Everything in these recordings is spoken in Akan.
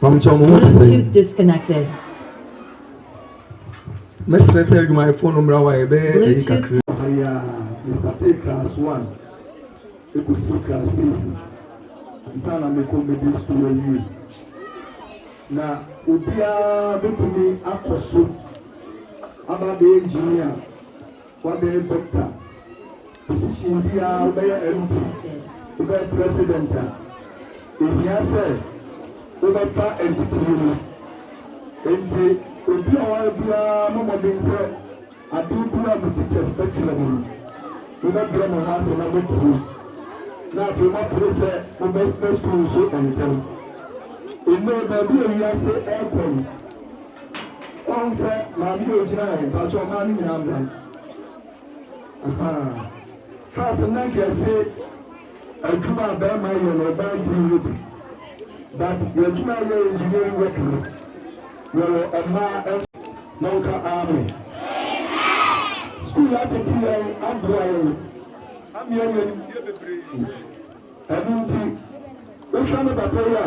Pamukyɛw mo ho te sɛn? Bluetooth disconnected. Mɛsrɛ sɛ adwumayɛfoɔ no mmra hɔ a yɛbɛyɛ ayi kakra. Aya mesatee class one ɛkɔsii class eight ansa na mekɔ middle school awie na obiara bɛtumi akɔ so aba abɛyɛ engineer wabɛyɛ doctor Position biaa wobɛyɛ MP wobɛyɛ president a ɛhia sɛ wobɛfa atitire mu nti obi a ɔwɔ ha biaa mmɔ mmɔden sɛ adeɛ biaa mo teachers bɛkyerɛ mo no mobɛbrɛ mo ho ase na moatie na afei moapere sɛ mobɛkɔ school nso ntɛm. Nnɛ baabi a wiase ɛrekɔ no woahu sɛ maame a ɔgyina ha yi mpakyɛw mmaa no nyinaa mmra. Ahaa kaa sɛ na nka yɛse adwuma a bɛɛma yɛ no ɔbaa ntumi yɛ bi but yɛadwuma a yɛyɛ engineering work no yɛwɔ ɛmaa ɛn na wo ka amen school atete yɛn aboa yɛn ama yɛanya nimdeɛ bebree ɛno nti wo hwɛ ne papa yi a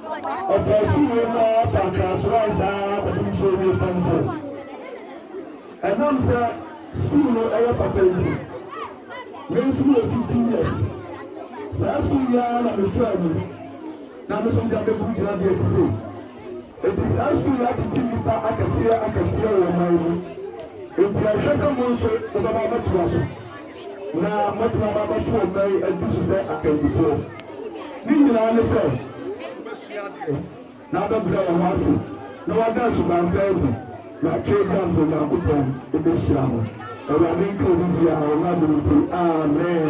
Ɔpɛɛ sii wei mu ara fa nkraswae saa ara kɔpem sɛ ɔwie Form Four. Ɛnam sɛ sukuu no ɛyɛ papa nti, me nso mewɔ fifteen years. Saa sukuu yi ara na mefaa mu na me nso mede abɛduru gyinabea ti sei. Enti saa sukuu yi atete nnipa akɛseɛ akɛseɛ wɔ ɔman mu. Enti ɛhwɛ sɛ mo nso mobɛba abɛtoa so. na mɛtena m'abatoɔ mman adi so sɛ akandifoɔ. Ne nyinaa ne sɛ wɔbɛsua adeɛ na abɛbrɛ wɔn ho ase na wɔada asuban pa adi, na atwerɛ bi ampa Onyankopɔn bɛhyira mo. Awurade nka obi biara ho adom nti, amen.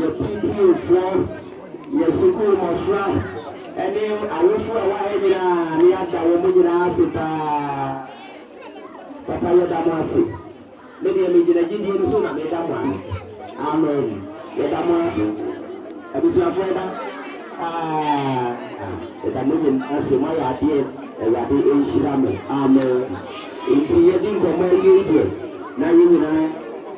Yɛ PTAfoɔ, yɛ sukuu mmɔfra ne awofoɔ a ɛwɔ ha nyinaa na yɛada wɔn nyinaa ase pa ara. Papa yɛda mo ase. Me deɛ megyina gyidie no so na meda mo ase. Amen. Yɛda mo ase. Abusuafoɔ yɛda aah yɛda mo nyinaa ase. Moayɛ adeɛ. Awurade nhyira mo. Amen. Nti yɛdi nkɔmmɔ awie yi deɛ na yɛn nyinaa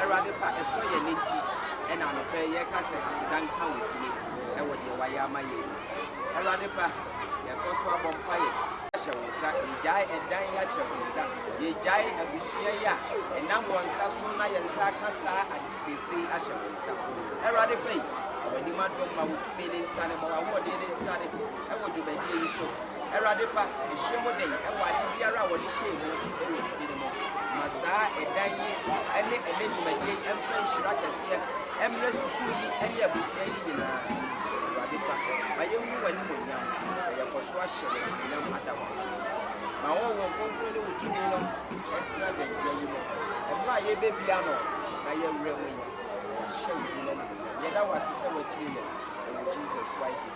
Awurade pa, ɛsɔ yɛn ani nti, ɛna anɔpa yi yɛka sɛ aseda nka wo din wɔ deɛ wayɛ ama yɛn mu. Awurade pa, yɛkɔ so abɔ mpaeɛ. Hyɛ wo nsa, yɛgyae ɛdan yi ahyɛ wo nsa, yɛgyae abusua yi a ɛnam wɔn nsa so na yɛn nsa aka saa ade fɛfɛ yi ahyɛ wo nsa. Awurade pa yi, ma w'anim adom, ma wo tumi ne nsane, ma w'ahoɔden ne nsane. wɔ dwumadie yi so. Awurade pa, hyɛ mu den wɔ ade biara a wɔde hyɛɛ mu nso wɔ mu din mu. Ma saa ɛdan yi ne ɛnɛ dwumadie yi mfa nhyira kɛseɛ mmrɛ sukuu yi ne abusua yi nyinaa. Awurade pa, ma yɛnhu w'animuonyam na yɛkɔ so ahyɛ wo anuonyam ada wo ase. Ma Honhom Kronkron ne wo tumi no ntena dankyira yi mu mmerɛ a yɛrebɛbia ano na yɛawura mu yi, na yɛahyɛ wo din no animuonyam. Yɛda wo ase sɛ woatie yɛn. Ɛwɔ Jesus Christ din.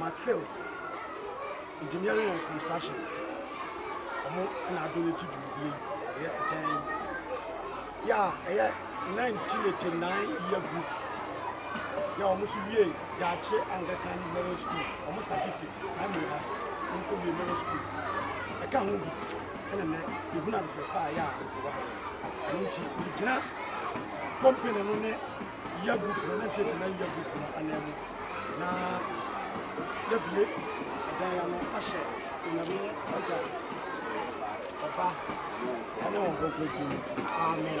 Macphail Engineering and Construction ɔmo na ado ne ti dwumadie yi ɛyɛ ɔdan yi yɛ a ɛyɛ 1989 year group yɛ a ɔmo so wie Daakye Anglican Middle School ɔmo satifi primary ha ɔmo kɔ wie middle school ɛka ho bi ɛna nɛ yɛhunu adefɛfa a yɛ a ɛwɔ ha yɛ ɛno nti megyina company no ne yɛ gu pono na nkyerɛkyerɛ na yɛ gu pono anan mu na yɛbie ɛdan ano ahyɛ onyame agya ɔba ɛne wɔn kɔnkɔnkɔn mu amen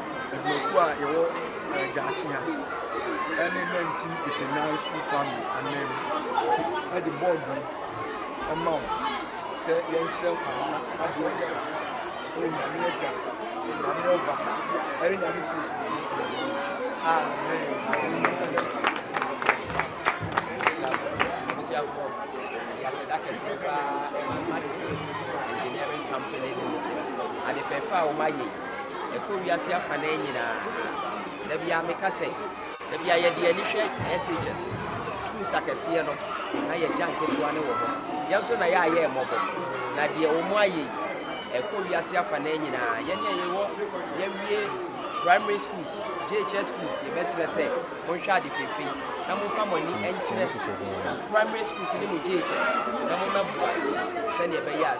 adwumakuo a yɛwɔ gyaakye ha ɛne nantin etenan school family anan mu ɛde bɔɔdu ɛma wo sɛ yɛnkyerɛ nkwadaa adeɛ wɔ so ɛyɛ nyame agya nyame ɔba ɛne nyame suosu amen yɛaseda kɛseɛ paa ɛma engineering company limited ade fɛfɛ a wɔayɛ ɛkɔ wiase afanan nyinaa. Da biara meka sɛ, da biara yɛde yɛn ani hwɛ SHS, schools akɛseɛ no, na yɛgya nketewa no wɔ hɔ. Yɛn nso na yɛayɛ yɛn mmɔbɔ. Na deɛ wɔn ayɛ yi, ɛkɔ wiase afanan nyinaa. Yɛn a yɛwɔ yɛawie primary schools, JHS schools, yɛbɛsrɛ sɛ monhwɛ ade fefei na momfa mo ani nkyerɛ mo primary schools ne mo JHS na mommɛboa sɛdeɛ ɛbɛyɛ a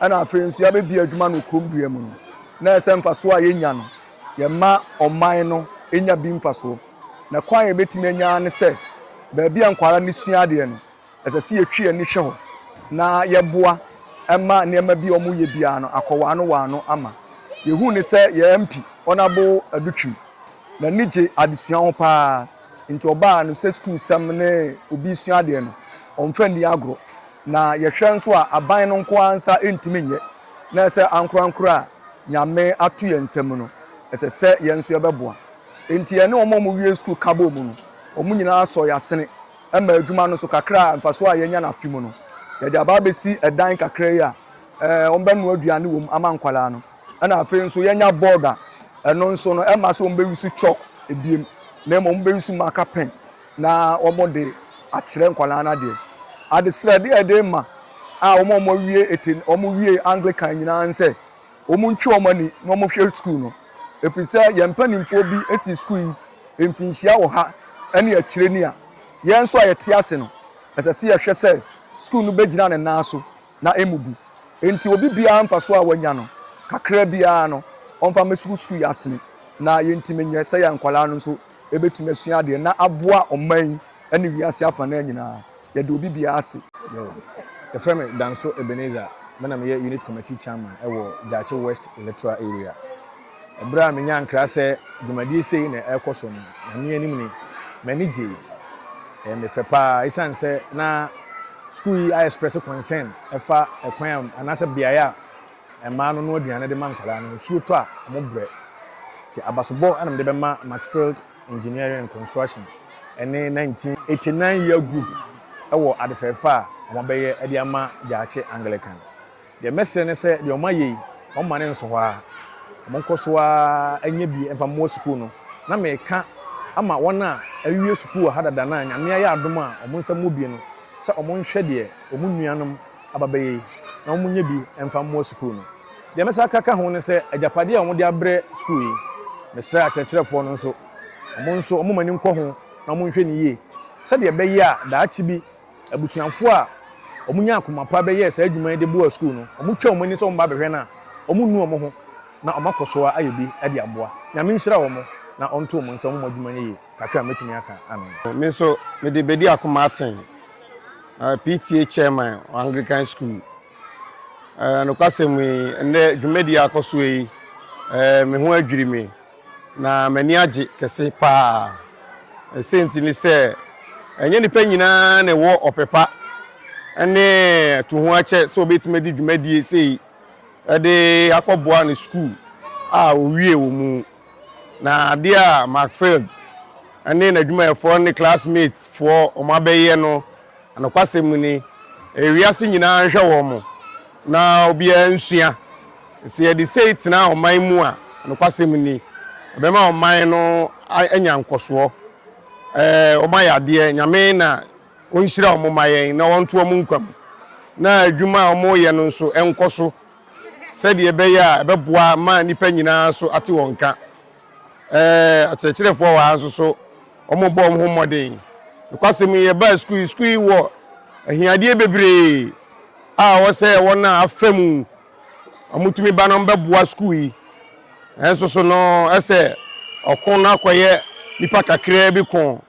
ɛna afei nso yɛabɛdi adwuma no kurom dua mu no, na ɛyɛ sɛ mfasoɔ a yɛnya no, yɛma ɔman no nya bi mfasoɔ. Na kwan a yɛbɛtumi anya ara ne sɛ, baabi a nkwadaa no sua adeɛ no, ɛsɛ sɛ yɛtwe yɛn ani hwɛ hɔ, na yɛboa ma nneɛma bi a wɔyɛ biara no akɔ wɔn ano wɔn ano ama. Yɛhuu no sɛ yɛn MP, Honourable Adutwum, n'ani gye adesua ho pa ara. Ntsi ɔbaa no sɛ skuulsɛm ne obi sua adeɛ no, ɔmmfa nni agorɔ. Na yɛhwɛ nso a, aban no nko ara nsa nntumi nnyɛ, na sɛ ankorankor a Nyame ato yɛn nsa mu no, ɛsɛ sɛ yɛn nso yɛbɛboa. Ntsi yɛne wɔn a wɔwiee skuul ka bɔɔ mu no, wɔn nyinaa sɔɔ yɛn asene maa edwuma no so kakra a mfaso a yɛanya no afe mu no, yɛde aba abesi dan kakra yi a wɔbɛnoa eduane wɔ mu ama nkwadaa no. Ɛna afei nso yɛnya board a ɛno nso no ɛma sɛ wɔn bɛyi so chalk ebiem na mmom wɔn bɛyi so marker pen na wɔn de akyerɛ nkwadaa no adeɛ. Adesrɛdeɛ a ɛde ma a wɔn a wɔn awie ete wɔn wie Anglican nyinaa nsɛ wɔn ntwe wɔn ani na wɔn hwɛ sukuu no efiri sɛ yɛn mpanimfoɔ bi esi sukuu yi mfinhyia wɔ ha ɛne akyire ni a yɛn nso a yɛte ase no ɛsɛ sɛ yɛhwɛ sɛ sukuu no bɛgyina ne nan so. na emmubu. Enti obi biara mfaso a wanya no, kakraa biara no, ɔmfa mmɛsugu sukuu yi asene, na yentumi nyɛ sɛ yɛn nkwadaa no nso betumi asua adeɛ na aboa ɔman yi ne wiase afanan nyinaa. Yɛda obi biara ase. Yo. Yɛfrɛ me Danso Ebenezer, me na meyɛ Unit Committee Chairman wɔ Gyaakye West Electoral Area. Bere a minyaa nkra sɛ dwumadi sei na ɛrekɔ so no, Nyame anim ni, m'ani gyei. Ɛyɛ me fɛ paa. Esiane sɛ na sukuu yi ayɛ sprɛse kɔnsɛn ɛfa ɛkwan a anaasɛ beae a mmaa no noa aduane de ma nkwadaa no, nsuo tɔ a, wɔbrɛ. Nti abasobɔ na mede bɛma Macfield Engineering and Construction ne 1989 Year Group wɔ adefɛɛfɛ a wɔabɛyɛ de ama Gyaakye Anglican. Deɛ mɛsrɛ ne sɛ deɛ wɔayɛ yi, wɔmma no nso hɔ ara. Wɔnkɔ so ara nyɛ bi mfa mmoa sukuu no. Na mereka ama wɔn a awie sukuu wɔ ha dada na Nyame ayɛ adom a wɔn nsa mmɔ bi no sɛ wɔnhwɛ deɛ wɔn nuanom aba bɛyɛ yi na wɔnyɛ bi mfa mmoa sukuu no. Deɛ mɛsan aka aka ho ne sɛ agyapadeɛ a wɔde abrɛ sukuu yi, mesrɛ akyerɛkyerɛfoɔ no nso, wɔn nso wɔmma ani nkɔ ho na wɔnhwɛ no yie sɛdeɛ ɛbɛyɛ a daakye bi, Abusuafo a wɔnyaa koma pa bɛyɛɛ saa adwuma yi de boaa sukuu no. Wɔtwaa wɔn ani sɛ wɔbɛba abɛhwɛ no a, wɔnnu wɔn ho, na wɔakɔ so ara ayɛ bi de aboa. Nyame nhyira wɔn, na ɔnto wɔn nsa, wɔmmɔ adwuma no yiye. Kakra a metumi aka ano no. Me nso, mede bedi akoma aten. PTA Chairman wɔ Anglican Sukuu. Nokwasɛm ni, nnɛ dwumadi a akɔ so yi, me ho adwiri me. Na m'ani agye kɛse paa. Ɛsɛ nti ne sɛ, ɛnyɛ nnipa nyinaa na ɛwɔ ɔpɛ pa ne to ho akyɛ sɛ obetumi de dwumadie sei de akɔboa ne sukuu a owie wɔ mu. Na adeɛ a Mark Field ne n'adwumayɛfoɔ ne classmates foɔ wɔn abɛyɛ no Nokwasɛm ni, wiase nyinaa nhwɛ wɔn na obiara nsua. Sɛ yɛde sei tena ɔman mu a, nokwasɛm ni, ɛbɛma ɔman no anya nkɔsoɔ. Wɔn ayɛ adeɛ, Nyame na ɔnhyira wɔn ma yɛn na ɔnto wɔn nkwa mu, na adwuma a wɔyɛ no nso nkɔ so sɛdeɛ ɛbɛyɛ a ɛbɛboa ma nnipa nyinaa nso ate wɔn nka. Ɛɛ akyerɛkyerɛfoɔ wɔ ha nso so, wɔbɔ wɔn ho mmɔden. Nokwasɛm yi, yɛbaa sukuu yi, sukuu yi wɔ ahiadeɛ bebree a ɛwɔ sɛ wɔn a afa mu wɔtumi ba no bɛboa sukuu yi. Nanso so no, ɛsɛ ɔko no akɔyɛ nipa kakraa bi ko.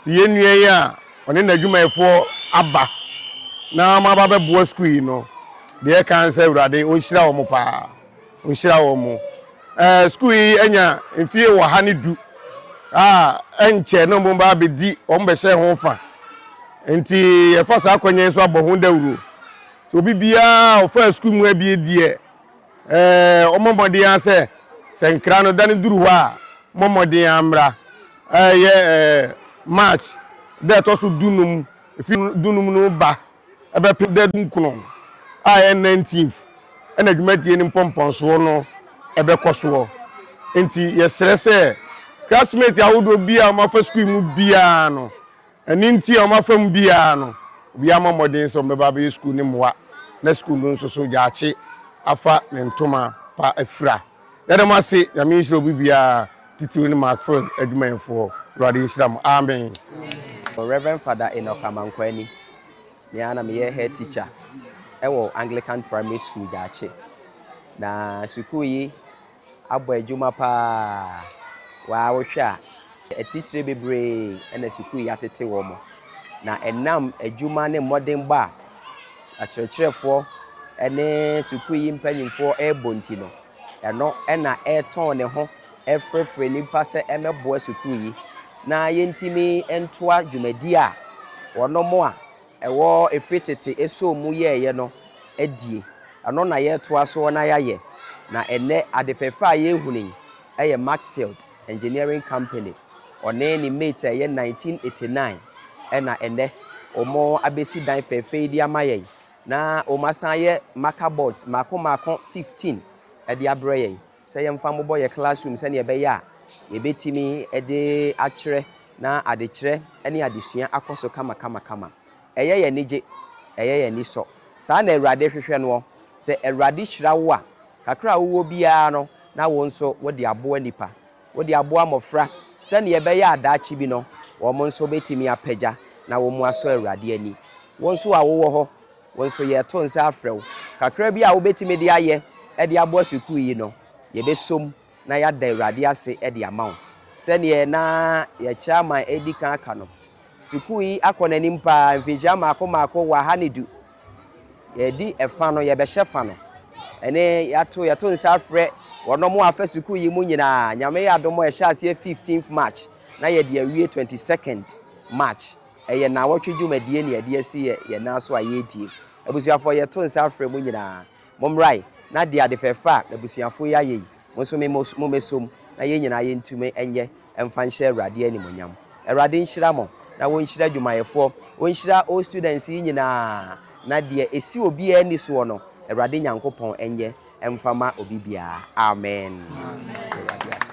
Nti yɛn nua yi a ɔne n'adwumayɛfoɔ aba na wɔaba bɛboa sukuu yi no, deɛ ɛka ne sɛ Awurade ɔnhyira wɔn paa, ɔnhyira wɔn. Ɛɛ sukuu yi anya mfie wɔ ha ne du a ɛnkyɛ na wɔn ba bɛdi wɔn bɛhyɛ ho fa. Nti yɛfa saa akwannya yi so abɔ ho dawuro. Nti obi biara ɔfaa sukuu mu abie deɛ wɔmmɔ mmɔden ara sɛ sɛ nkra no da no duru hɔ a mmɔ mmɔden ara mmra ɛyɛ march da ɛtɔ so dunum efi dunum no ba ɛbɛpem da dunkron a ɛyɛ nineteenth ɛna dwumadie no mpɔmpɔnsoɔ no ɛbɛkɔ soɔ nti yɛsrɛ sɛ classmate ahodoɔ bi a wɔafa sukuu mu biara no Ɛno nti wɔn afa mu biara no, obiara mmɔ mmɔden sɛ wɔbɛba abɛyɛ sukuu no mmoa, na sukuu no nso so gyaakye afa ne ntoma pa afira. Yɛda mo ase. Nyame nhyira obi biara, titiriw ne Markfield adwumayɛfoɔ. Awurade nhyira mo. Amen. Rev. Father Enoch Amankwani, me ara na meyɛ head teacher wɔ Anglican Primary School Gyaakye. Na sukuu yi abɔ adwuma pa ara. Waa wohwɛ a, atitire bebree na sukuu yi atete wɔn. Na ɛnam adwuma ne mmɔdenbɔ a akyerɛkyerɛfoɔ ne sukuu yi mpanimfoɔ rebɔ nti no, ɛno na ɛretɔn ne ho ɛrefrɛfrɛ nnipa sɛ ɛmmɛboa sukuu yi na yɛntumi ntoa dwumadie a wɔn a Ɛwɔ ɛfiri tete ɛsoo mu yɛɛyɛ no adie, ɛno na yɛɛtoa soɔ na yɛayɛ, na ɛnnɛ ade fɛfɛ a yɛɛhunu yi ɛyɛ Macfield Engineering Company, ɔne ne mate a ɛyɛ 1989 ɛna ɛnnɛ wɔn abɛsi dan fɛfɛ yi de ama yɛn, na wɔn asan ayɛ marker boards mmaako mmaako 15 ɛde abrɛ yɛn. sɛ yɛmfa mmobɔ yɛn classroom sɛnea ɛbɛyɛ a yɛbɛtumi de akyerɛ na adekyerɛ ne adesua akɔ so kamakamakama. Ɛyɛ yɛn anigye, ɛyɛ yɛn ani sɔ. Saa na Awurade hwehwɛ noɔ. Sɛ Awurade hyira wo a, kakra a wowɔ biara no, na wo nso wode aboa nnipa. Wode aboa mmɔfra sɛnea ɛbɛyɛ a daakye bi no, wɔn nso bɛtumi apagya na wɔasɔ Awurade ani. Wo nso a wowɔ hɔ Wo nso yɛreto nsa afrɛ wo. Kakra bi a wobɛtumi de ayɛ de aboa sukuu yi no, yɛbɛsom na yɛada Awurade ase de ama wo. Sɛdeɛ na yɛn Chairman redi kan aka no, sukuu yi akɔ n'anim pa ara, mfinhyia mmaako mmaako wɔ aha ne du. Yɛdi ɛfa no, yɛbɛhyɛ fa no. Ɛne yɛato yɛto nsa afrɛ wɔn a wɔafa sukuu yi mu nyinaa. Nyame yɛ adom a, yɛhyɛ aseɛ 15th March na yɛde awie 22nd March. Ɛyɛ naawɔtwe dwumadie ne yɛde asi yɛ yɛn nan so a yɛretie. Abusuafoɔ yɛto nsa frɛ mo nyinaa, mo mmrae na de ade fɛfɛ a abusuafoɔ yi ayɛ yi mo nso me mo mo mɛsɔ mu na yɛn nyinaa yɛntumi nyɛ mfa nhyɛ Awurade animuonyam. Awurade nhyira mo na wɔnhyira adwumayɛfoɔ, wɔnhyira all students yi nyinaa na deɛ ɛsi obiara ani soɔ no Awurade Nyankopɔn nyɛ mfa ma obi biara. Amen. Yɛda Awurade ase.